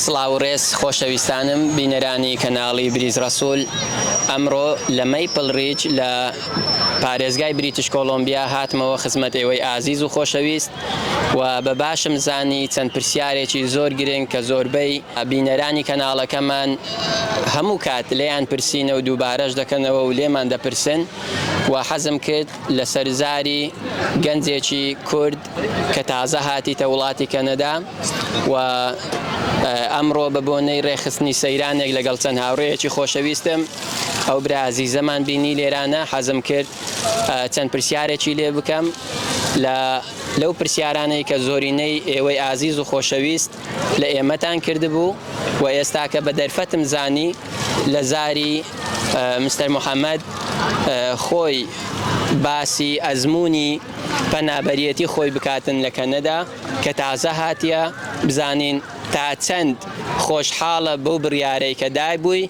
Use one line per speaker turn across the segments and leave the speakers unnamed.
سڵاو ڕێز خۆشەویستانم بینەرانی کەناڵی بریز ڕسوول ئەمڕۆ لە مەیپل ڕیچ لە پارێزگای بریتش کۆلمبیا هاتمەوە خزمەت ئێوەی ئازیز و خۆشەویست و بە باشم زانی چەند پرسیارێکی زۆر گرنگ کە زۆربەی بینەرانی کەناڵەکەمان هەموو کات لێیان پرسینە و دووبارەش دەکەنەوە و لێمان دەپرسن و حەزم کرد لەسەر زاری گەنجێکی کورد کە تازە هاتیتە وڵاتی کەنەدا و ئەمڕۆ بە بۆنەی ڕێخستنی سەیرانێک لەگەڵ چەند هاوڕێیەکی خۆشەویستم ئەو برا ئازیزەمان بینی لێرانە حەزم کرد چەند پرسیارێکی لێ بکەم لە لەو پرسیارانەی کە زۆرینەی ئێوەی ئازیز و خۆشەویست لە ئێمەتان کردبوو و ئێستا کە بە دەرفەتم زانی لە زاری مستەر محەممەد خۆی باسی ئەزمموی پەنابەرەتی خۆی بکاتن لە کەنەدا کە تازە هااتە بزانین تا چەند خۆشحاڵە بەو بڕیارەی کە دای بووی.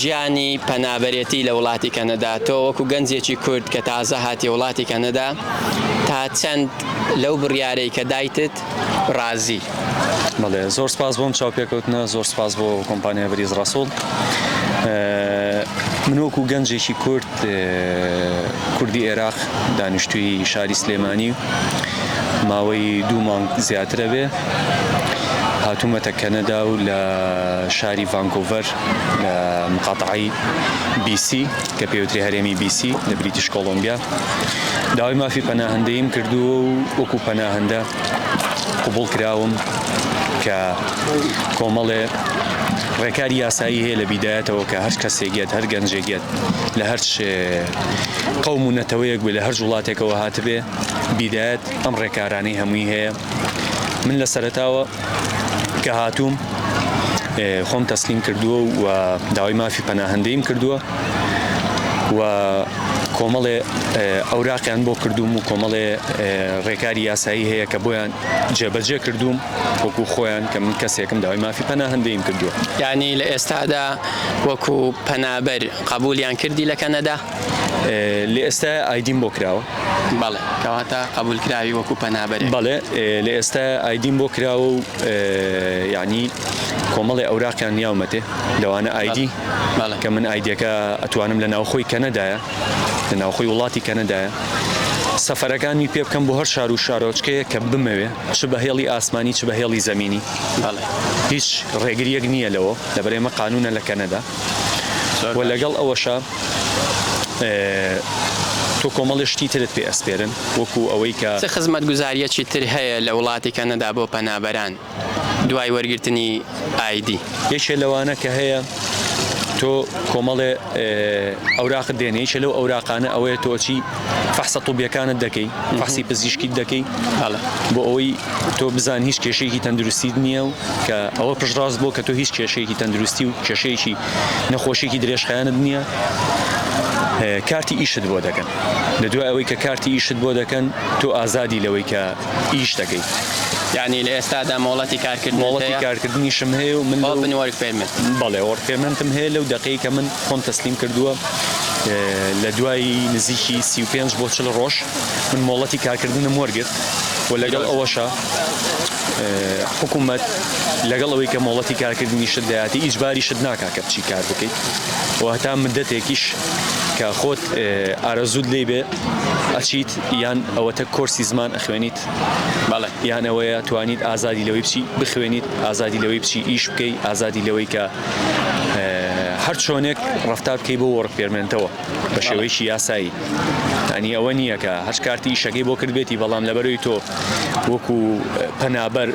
ژیانی پەنابەرێتی لە وڵاتی کەنەدا تۆ وەکو گەنجێکی کورد کە تازە هاتی وڵاتی کەنەدا تا چەند لەو بڕیارەی کە دایتت ڕازی بەڵێ
زۆر سپاس بۆم چاوپێکەوتنە زۆر سپاس بۆ کۆمپانیا بریز ڕسوڵ منۆک و گەنجێکی کورد کوردی ئێراق دانیشتووی شاری سلێمانی ماوەی دوو مانگ زیاترە بێ هاتوومەتە کەنەدا و لە شاری ڤانکۆڤەر لە مقاتعی بیسی کە پێوتری هەرێمی بیسی لە بریتیش کۆڵۆمبیا داوای مافی پەناهندەیم کردووە و وەکو پەناهندە قوبڵ کراوم کە کۆمەڵێ ڕێکاری یاسایی هەیە لە بیدایەتەوە کە هەر کەسێکیت هەر گەنجێکیت لە هەرچ قەوم و نەتەوەیەک بێ لە هەرج وڵاتێکەوە هاتبێ بیدایەت ئەم ڕێکارانەی هەمووی هەیە من لە سەرتاوە کە هاتووم خۆم تەسلیم کردووە و داوای مافی پەناهندەیم کردووە و کۆمەڵێ ئەوراقیان بۆ کردوم و کۆمەڵێ ڕێکاری یاسایی هەیە کە بۆیان جێبەجێ کردوم وەکو خۆیان کە من کەسێکم داوای مافی پەناهندەیم کردووە یعنی لە ئێستادا
وەکو پەنابەر قەبولیان کردی لە کەنەدا؟ لە
ئێستا ئایدیم بۆ کراوە بەڵێ کەواتە
قبول کراوی وەکو پەنابەر بەڵێ لە ئێستا
ئایدیم بۆ کراوە و یعنی کۆمەڵی ئەوراقیان یاومەتێ لەوانە ئایدی کە من ئایدەکە ئەتوانم لە ناوخۆی کەنەدایە لە ناوخۆی وڵاتی کەنەدایە سەفەرەکانی پێ بکەم بۆ هەر شار و شارۆچکەیە کە بمەوێ چ بە هێڵی ئاسمانی چ بە هێڵی زەمینی هیچ ڕێگریەک نییە لەوە لەبەر ئێمە قانونە لە کەنەدا و لەگەڵ ئەوەشە تۆ کۆمەڵی شتی ترت پێ ئەسپێرن وەکو ئەوەی کە چ خزمەت گوزاریەکی
تر هەیە لە وڵاتی کەنەدا بۆ پەنابەران دوای وەرگرتنی ئایدی؟ یەکێ لەوانە
کە هەیە. تۆ کۆمەڵێ ئەوراقت دێنێ یەکێ لەو ئەوراقانە ئەوەیە تۆ چی فەحسە طوبیەکانت دەکەی فەحسی پزیشکیت دەکەی بۆ ئەوەی تۆ بزان هیچ کێشەیەکی تەندروستیت نییە و کە ئەوە پشتڕاست بۆ کە تۆ هیچ کێشەیەکی تەندروستی و کێشەیەکی نەخۆشیێکی درێژخایەنت نییە کارتی ئیشت بۆ دەکەن لە دوای ئەوەی کە کارتی ئیشت بۆ دەکەن تۆ ئازادی لەوەی کە ئیش دەکەیت یعنی لە
ئێستادا مۆڵەتی کارکرد مۆڵەتی کارکردنیشم
هەیە و من من وەرک پێمن بەڵێ وەڕ پێمنتم هەیە لەو دقەی کە من خۆم تەسلیم کردووە لە دوایی نزیکی سی و پێنج بۆ چل ڕۆژ من مۆڵەتی کارکردنم وەرگرت و لەگەڵ ئەوەشە حکوومەت لەگەڵ ئەوەی کە مۆڵەتی کارکردنی شت دەیاتی ئیجباری شت ناکا کە بچی کار بکەیت و هەتا مدەتێکیش کە خۆت ئارەزود لی بێ ئەچیت یان ئەوەتە کۆرسی زمان ئەخوێنیت بەڵێ
یان ئەوەیە
توانیت ئازادی لەوەی بچی بخوێنیت ئازادی لەوەی بچی ئیش بکەی ئازادی لەوەی کە هەر چۆنێک ڕفتار بکەی بۆ وەڕک پێرمێنتەوە بە شێوەیەکی یاسایی ئەنی ئەوە نییە کە هەر کارتی ئیشەکەی بۆ کردبێتی بەڵام لەبەروی تۆ وەکو پەنابەر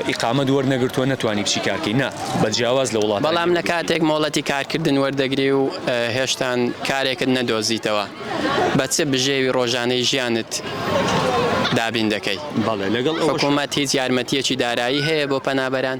ئیقامە دووەەر نەگرتووە نەتوانی بچی کارکەی نا بە جیاواز لە وڵات بەڵام لە کاتێک مۆڵەتی
کارکردن وەردەگری و هێشتان کارێکت نەدۆزیتەوە بە چ بژێوی ڕۆژانەی ژیانت دابین دەکەی؟ حکومەت
هیچ یارمەتییەکی
دارایی هەیە بۆ پەنابەران؟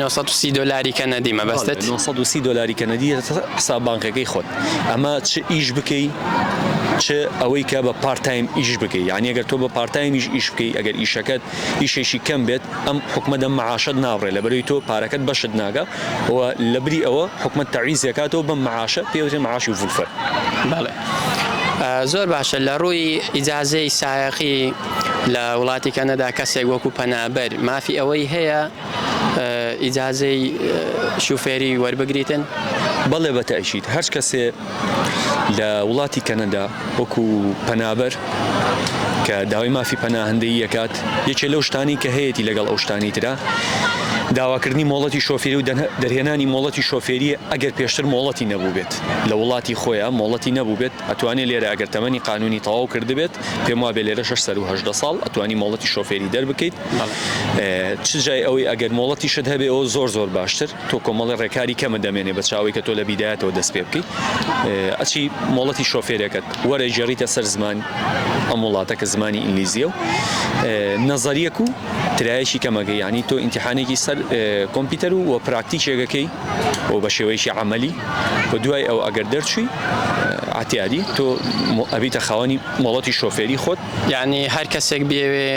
نۆ سەد و سی دۆلاری
کەنەدی مەبەستت؟ بەڵێ، نۆ سەد و سی دۆلاری
کەنەدی لەسەر حساب بانقیەکەی خۆت. ئەمە چ ئیش بکەی چ ئەوەی کە بە پارت تایم ئیش بکەی. یانی ئەگەر تۆ بە پارت تایمیش ئیش بکەی ئەگەر ئیشەکەت ئیشێکی کەم بێت ئەم حکومەت ئەم معاشەت نابڕێ لەبەرەوەی تۆ پارەکەت بەشت ناگا و لەبری ئەوە حکومەت تەعویزی ئەکاتەوە بەم معاشە پێی ئەوترێ معاشی فولفەر. بەڵێ.
زۆر باشە لە ڕووی ئیجازەی سایەقی لە وڵاتی کەنەدا کەسێک وەکو پەنابەر مافی ئەوەی هەیە ئیجازەی شوفێری وەربگریتن؟ بەڵێ بە
تەئکید هەر کەسێ لە وڵاتی کەنەدا وەکو پەنابەر کە داوای مافی پەناهندەی یەکات یەکێ لەو شتانی کە هەیەی لەگەڵ ئەو شتانی تررا داواکردنی مۆڵەتی شۆفێری و دەرهێنانی مۆڵەتی شۆفێریە ئەگەر پێشتر مۆڵەتی نەبوو بێت. لە وڵاتی خۆیە مۆڵەتی نەبووبێت ئەتوانێ لێرە ئەگەر تەمەنی قانونی تەواو کردبێت پێم وابێ لێرە شەش سەروو هەژدە ساڵ ئەتوانی مۆڵەتی شۆفێری دەربکەیت چ جای ئەوەی ئەگەر مۆڵەتیشت هەبێ ئەو زۆر زۆر باشتر تۆ کۆمەڵی ڕێکاری کەمە دەمێنێ بە چاوەی کە تۆ لە بیدایەتەوە دەست پێ بکەیت ئەچی مۆڵەتی شۆفێرەکەت وەرە ژێڕیتە سەر زمان ئەم وڵاتە کە زمانی ئینگلیزیە و نەزەریەک و ترایەکی کەمەکە یعنی تۆ ئینتحانێکی سەر کۆمپیوتەر و پراکتیکێگەکەی و بە شێوەیەکی عملی و دوای ئەو ئەگەر دەرچووی عتیادی تۆ ئەبیتە خاوەنی مۆڵەتی شۆفێری خۆت یعنی هەر کەسێک
بێوێ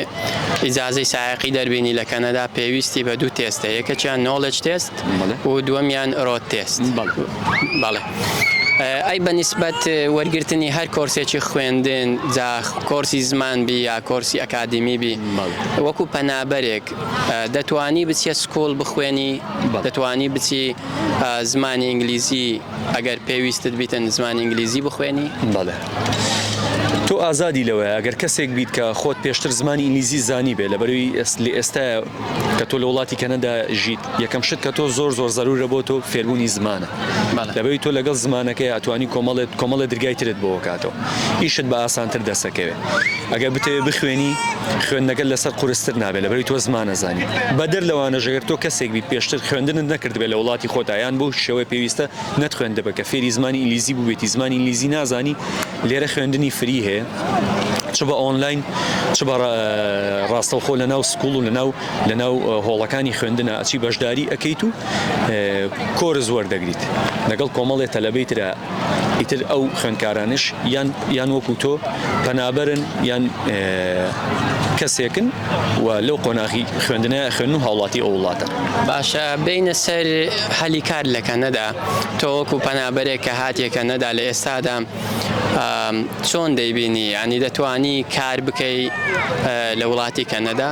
ئیجازەی سایقی دەربینی لە کەنەدا پێویستی بە دوو تێستە یەکەکیان نۆڵج تێست و دووەمیان ئرۆت تێست بەڵێ ئەی بە نسبەت وەرگرتنی هەر کۆرسێکی خوێندن جا کۆرسی زمان بی یا کۆرسی ئەکادیمی بی وەکو پەنابەرێک دەتوانی بچیە سکوڵ بخوێنی دەتوانی بچی زمانی ئینگلیزی ئەگەر پێویستت بیتن زمانی ئینگلیزی بخوێنی بەڵێ.
تۆ ئازادی لەوەیە ئەگەر کەسێک بیت کە خۆت پێشتر زمانی ئینگلیزی زانی بێ لە بەروی ئێست لە ئێستا کە تۆ لە وڵاتی کەنەدا ژیت یەکەم شت کە تۆ زۆر زۆر زەرورە بۆ تۆ فێربوونی زمانە بەڵێ لەبەری تۆ لەگەڵ زمانەکەی ئەتوانی کۆمەڵێ کۆمەڵێ درگای ترت بۆ کاتەوە ئیشت بە ئاسانتر دەسەکەوێ ئەگەر بتەوێ بخوێنی خوێندنەکە لەسەر قورستر نابێت لەبەری تۆ زمانە زانی بەدەر لەوانە ژەگەر تۆ کەسێک بیت پێشتر خوێندنت نەکردبێت لە وڵاتی خۆتا یان بۆ شێوەی پێویستە نەت خوێندبێت کە فێری زمانی ئینگلیزی بووبێتی زمانی ئینگلیزی نازانی لێرە خوێندنی فری هەیە چ بە ئۆنلاین چ بە ڕاستەوخۆ لە ناو سکوڵ و لە ناو لەناو هۆڵەکانی خوێندنا ئەچی بەشداری ئەکەیت و کۆرس وەردەگریت لەگەڵ کۆمەڵێ تەلەبەی ترا ئیتر ئەو خوێندکارانش یان یان وەکو تۆ پەنابەرن یان کەسێکن و لەو قۆناغی خوێندنە خوێن و هاوڵاتی ئەو وڵاتە باشە بینە
سەر هەلی کار لە کەنەدا تۆ وەکو پەنابەرێک کە هاتیە کەنەدا لە ئێستادا چۆن دەیبینی ینی دەتانی کار بکەی لە وڵاتی کەنەدا؟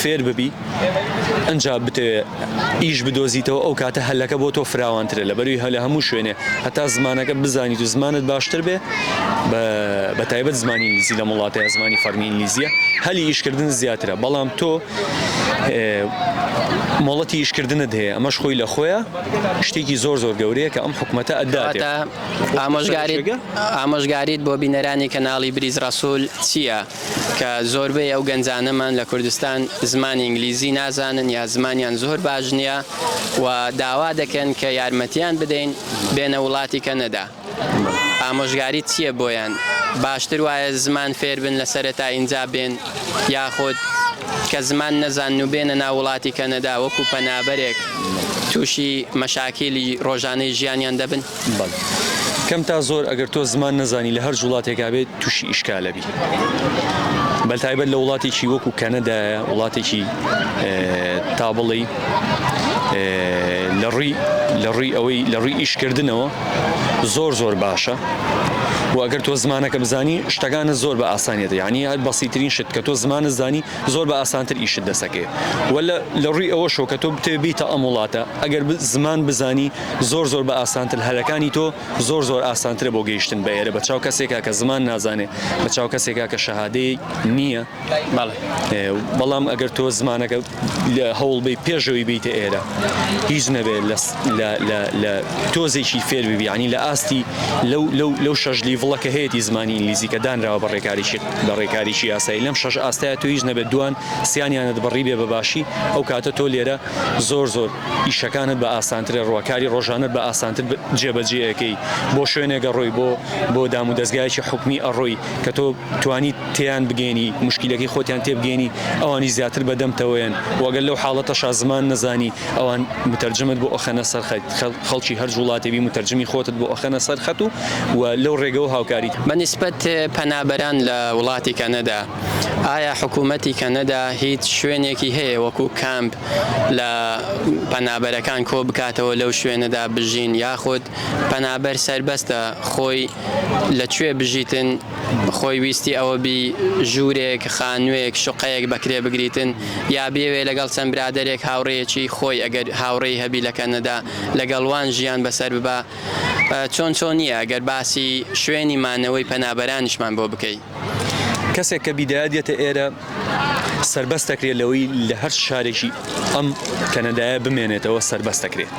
فێر ببی ئەنجا بتەوێ ئیش بدۆزیتەوە ئەو کاتە هەلەکە بۆ تۆ فراوانترە لە بەروی هەلە هەموو شوێنێ هەتا زمانەکە بزانیت و زمانت باشتر بێ بە تایبەت زمانی ئینگلیزی لە وڵاتەیە زمانی فەرمی ئینگلیزیە هەلی ئیشکردن زیاترە بەڵام تۆ مۆڵەتی ئیشکردنت هەیە ئەمەش خۆی لە خۆیە شتێکی زۆر زۆر گەورەیە کە ئەم حکوومەتە ئەدات ئامۆژگاریگە
ئامۆژگاریت بۆ بینەرانی کەناڵی بریز ڕسوول چییە؟ کە زۆربەی ئەو گەنجانەمان لە کوردستان زمانی ئینگلیزی نازانن یا زمانیان زۆر باش نییە و داوا دەکەن کە یارمەتیان بدەین بێنە وڵاتی کەنەدا ئامۆژگاریت چییە بۆیان باشتر وایە زمان فێربن لە سەرەتا ئینجا بێن یاخود کە زمان نەزان و بێنە ناو وڵاتی کەنەدا وەکو پەنابەرێک تووشی مەشاکیلی ڕۆژانەی ژیانیان دەبن؟ بەڵێ کەم
تا زۆر ئەگەر تۆ زمان نەزانی لە هەرج وڵاتێکا بێت تووشی ئیشکالەبی بەتایبەت لە وڵاتێکی وەکو کەنەدایە وڵاتێکی تا بڵی لە ڕووی لە ڕووی ئەوەی لە ڕووی ئیشکردنەوە زۆر زۆر باشە و ئەگەر تۆ زمانەکە بزانی شتەکانە زۆر بە ئاسانیت یعنی هەر بەسیترین شت کە تۆ زمانە زانی زۆر بە ئاسانتر ئیشت دەسەکەێ وە لە ڕووی ئەوە شۆ کە تۆ بتێبیتە ئەم وڵاتە ئەگەر زمان بزانی زۆر زۆر بە ئاسانتر هەلەکانی تۆ زۆر زۆر ئاسانترە بۆ گەیشتن بە ئێرە بە چاو کەسێکا کە زمان نازانێ بە چاو کەسێکا کە شەهادەی نییە بەڵام ئەگەر تۆ زمانەکە لە هەوڵ بی پێشەوەی بیتە ئێرە هیچ نەبێ لە تۆزێکی فێر ببیانی لە ئاستی لەو شەش لیڤڵەکە هەیەی زمانی ئینگلیزی کە دانراوە بە ڕێکاریی بە ڕێکاریی یاسایی لەم شەش ئاستای تۆ هیچ نەبێت دوان سیانیانت بڕی بێ بەباشی ئەو کاتە تۆ لێرە زۆر زۆر ئیشەکانت بە ئاسانترە ڕوا کاری ڕۆژانەت بە ئاسانتر جێ بەجێ ئەکەی بۆ شوێنێک ئەڕۆی بۆ بۆ دام و دەزگایەکی حکومی ئەڕۆی کە تۆ توانی تێیان بگەێنی مشکلەکەی خۆتیان تێبگەێنی ئەوانی زیاتر بەدەمتەوەیەن وەگەل لەو حاڵەتەشا زمان نەزانی ئەوان متەرجمت بۆ ئەخەنە سەر خەڵکی هەر جوڵاتێبی متەرجمی خۆتت بۆ ئەخەنە سەر خەت و و لەو ڕێگەەوە هاوکاری بە نیسبەت
پەنابەران لە وڵاتی کەنەدا. ئایا حکومەتی کەنەدا هیچ شوێنێکی هەیە وەکو کامپ لە پەنابەرەکان کۆبکاتەوە لەو شوێنەدا بژین یاخود پەنابەر سەربەستە خۆی لە کوێ بژیتن خۆی ویستی ئەوە بی ژورێک خانوێک شوقەیەک بەکرێ بگریتن یا بیەوێ لەگەڵ چەند برادەرێک هاوڕێیەکی خۆی ئەگەر هاوڕێی هەبی لە کەنەدا لەگەڵ وان ژیان بەسەر ببا چۆن چۆنیە ئەگەر باسی شوێنی مانەوەی پەنابەرانیشمان بۆ بکەی. کەسێک کە
بیدایە دێتە ئێرە سربەست دەکرێت لەوەی لە هەر شارێکی ئەم کەنەدایە بمێنێتەوە سربەست دەکرێت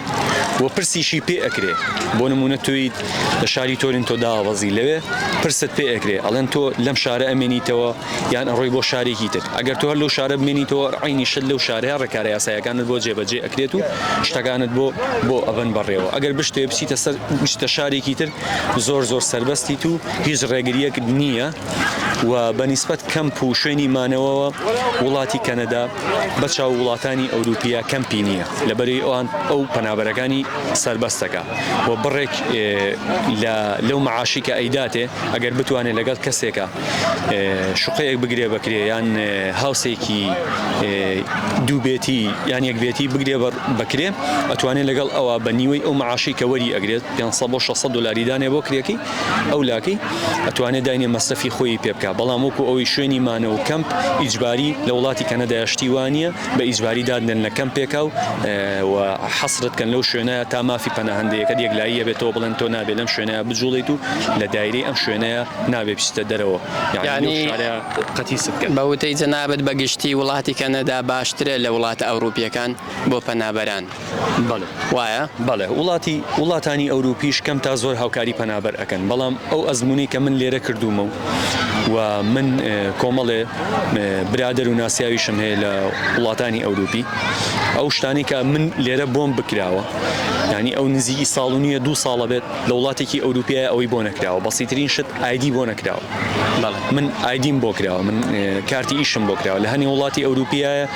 و پرسیشی پێ ئەکرێ بۆ نمونە تویت لە شاری تۆرین تۆ داوەزی لەوێ پرست پێ ئەکرێ ئەڵێن تۆ لەم شارە ئەمێنیتەوە یان ئەڕۆی بۆ شارێکی تر ئەگەر تۆ هەر لەو شارە بمێنیتەوە عینی شت لەو شارەیە ڕێکارە یاسایەکانت بۆ جێبەجێ ئەکرێت و شتەکانت بۆ بۆ ئەبەن بەڕێەوە ئەگەر بشتێ بچیتە سەر شتە شارێکی تر زۆر زۆر سەربەستیت و هیچ ڕێگریەکت نییە و بەنیسبەت کەمپ و شوێنی مانەوەوە وڵاتی کەنەدا بە چاو وڵاتانی ئەوروپیا کەمپی نییە لەبەری ئەوان ئەو پەنابەرەکانی سەربەستەکە و بڕێک لەو معاشی کە ئەیداتێ ئەگەر بتوانێت لەگەڵ کەسێکە شقەیەک بگرێ بەکرێ یان هاوسێکی دووبێتی یان یەکبێتی بگرێ بەکرێ ئەتوانێت لەگەڵ ئەوە بە نیوەی ئەو معاشی کە وەری ئەگرێت پێنج سەد بۆ شەش سەد دۆلاری دانێ بۆ کرێکەی ئەو لاکەی ئەتوانێ داینێ مەسرەفی خۆیی پێ بکا بەڵام وەکو ئەوەی شوێنی مانە و کەمپ ئیجباری لە وڵاتی کەنەدایە شتی وا نییە بە ئیجباری دادنێن لە کەمپێکا و و حەسرت کەن لەو شوێنەیە تا مافی پەناهەندەیەکەت یەکلاییە بێتەوە بڵێن تۆ نابێ لەم شوێنەیە بجوڵێیت و لە دایرەی ئەم شوێنەیە نابێ بچیتە دەرەوە یانی یانی شارەیە قەتیست کەن. بە وتەی جەنابت بە
گشتی وڵاتی کەنەدا باشترە لە وڵاتە ئەوڕوپییەکان بۆ پەنابەران؟ بەڵێ
وایە بەڵێ
وڵاتی
وڵاتانی ئەوروپیش کەم تا زۆر هاوکاری پەنابەر ئەکەن بەڵام ئەو ئەزمونەی کە من لێرە کردومە و و من کۆمەڵێ برادر و ناسیاویشم هەیە لە وڵاتانی ئەوروپی ئەو شتانی کە من لێرە بۆم بکراوە ینی ئەو نزیکی ساڵ و نییە دو ساڵە بێت لە وڵاتێکی ئەوروپیای ئەوەی بۆ نەکراوە بەسیترین شت ئایدی بۆ نەکراوە من ئایدیم بۆ کراوە من کارتی ئیشم بۆ کراوە لە هەنی وڵاتی ئەوروپیایە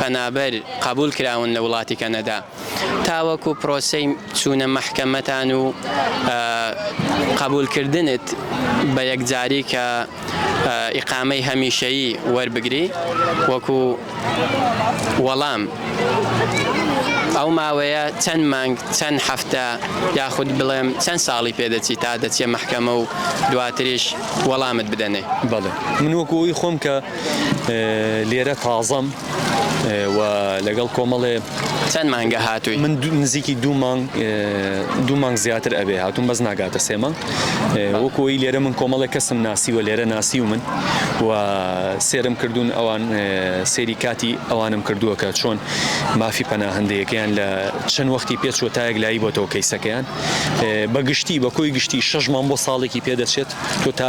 پەنابەر قەبوول کراون لە وڵاتی کەنەدا تاوەکو پرۆسەی چوونە مەحکەمەتان و قەبوولکردنت بە یەکجاری کە ئیقامەی هەمیشەیی وەربگری وەکو وەڵام ئەو ماوەیە چەند مانگ چەند هەفتە یاخود بڵێم چەند ساڵی پێدەچی تا دەچێ مەحکەمە و دواتریش وەڵامت بدەنێ بەڵێ من وەکو
ئەوی خۆم کە لێرە تازەم و لەگەڵ کۆمەڵێ چەند مانگە
هاتووی من نزیکی دوو
مانگ دوو مانگ زیاتر ئەبێ هاتوون بەس ناگاتە سێ مانگ وەکۆی لێرە من کۆمەڵێک کەسم ناسی و لێرە ناسی و من و سێرم کردوون ئەوان سێری کاتی ئەوانم کردووە کە چۆن مافی پەناهندەیەکەیان لە چەند وەختی پێ چۆتایەک لایی بۆتەوە کەیسەکەیان بەگشتی بە کۆی گشتی شەش مام بۆ ساڵێکی پێدەچێت تۆ تا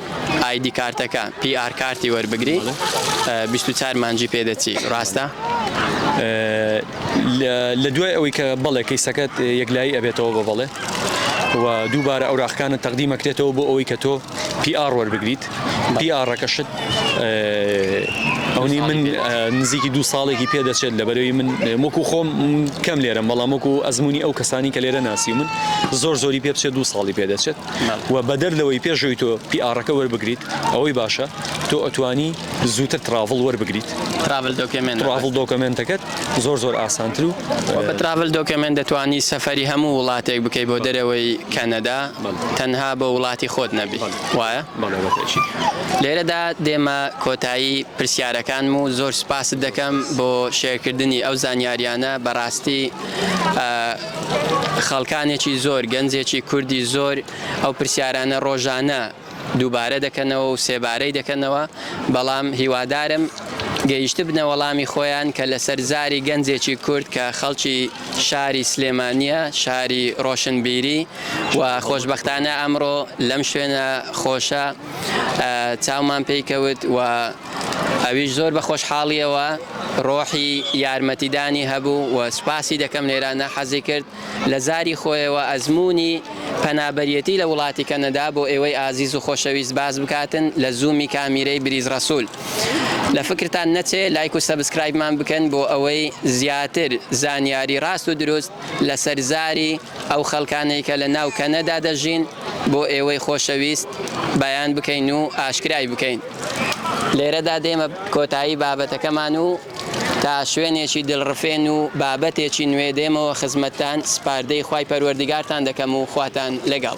ئایدی کارتەکە پی ئار کارتی وەربگری بیست و چار مانجی پێدەچی ڕاستە؟
لە دوای ئەوەی کە بەڵێ کەیسەکەت یەکلایی ئەبێتەوە بە بەڵێ و دووبارە ئەوراقەکانت تەقدیم ئەکرێتەوە بۆ ئەوەی کە تۆ پی ئاڕ وەربگریت پی ئاڕەکەشت ئەونی من نزیکی دوو ساڵێکی پێدەچێت لە بەرەوی من وەکو خۆم کەم لێرەم بەڵام وەکو ئەزمموی ئەو کەسانی کە لێرە ناسی من زۆر زۆری پێ بچێت دوو ساڵی پێدەچێت و بەدەر لەوەی پێشەوەی تۆ پی ئاڕەکە وەربگریت ئەوەی باشە تۆ ئەتوانی زووتر تراڤڵ وەربگریت تراڤل دۆکێمێنت
تراڤڵ دۆکەمێنتەکەت
زۆر زۆر ئاسانتر و بە تراڤل دۆکەمێنت
دەتوانی سەفەری هەموو وڵاتێک بکەی بۆ دەرەوەی کەنەدا تەنها بۆ وڵاتی خۆت نەبی وایە؟ لێرەدا دێمە کۆتایی پرسیارەکانم و زۆر سوپاست دەکەم بۆ شێرکردنی ئەو زانیاریانە بەڕاستی خەڵکانێکی زۆر، گەنجێکی کوردی زۆر ئەو پرسیارانە ڕۆژانە دووبارە دەکەنەوە و سێبارەی دەکەنەوە، بەڵام هیوادارم گەیشتبنە وەڵامی خۆیان کە لەسەر زاری گەنجێکی کورد کە خەڵکی شاری سلێمانییە، شاری ڕۆشنبیری و خۆشبەختانە ئەمڕۆ لەم شوێنە خۆشە چاومان پێی کەوت و ئەویش زۆر بە خۆشحاڵییەوە ڕۆحی یارمەتیدانی هەبوو و سوپاسی دەکەم لێرە ناحەزی کرد لە زاری خۆیەوە ئەزموونی پەنابەریەتی لە وڵاتی کەنەدا بۆ ئێوەی ئازیز و خۆشەویست باس بکاتن لە زوومی کامیرەی بریز ڕەسول لە فکرتان نەچێ لایک و سەبسکرایبمان بکەن بۆ ئەوەی زیاتر زانیاری ڕاست و دروست لە سەر زاری ئەو خەڵکانەی کە لە ناو کەنەدا دەژین بۆ ئێوەی خۆشەویست بەیان بکەین و ئاشکرای بکەین. لێرەدا دێمە کۆتایی بابەتەکەمان و تا شوێنێکی دڵڕفێن و بابەتێکی نوێ دێمەوە خزمەتتان، سپاردەی خوای پەروەردگارتان دەکەم و خواتان لەگەڵ.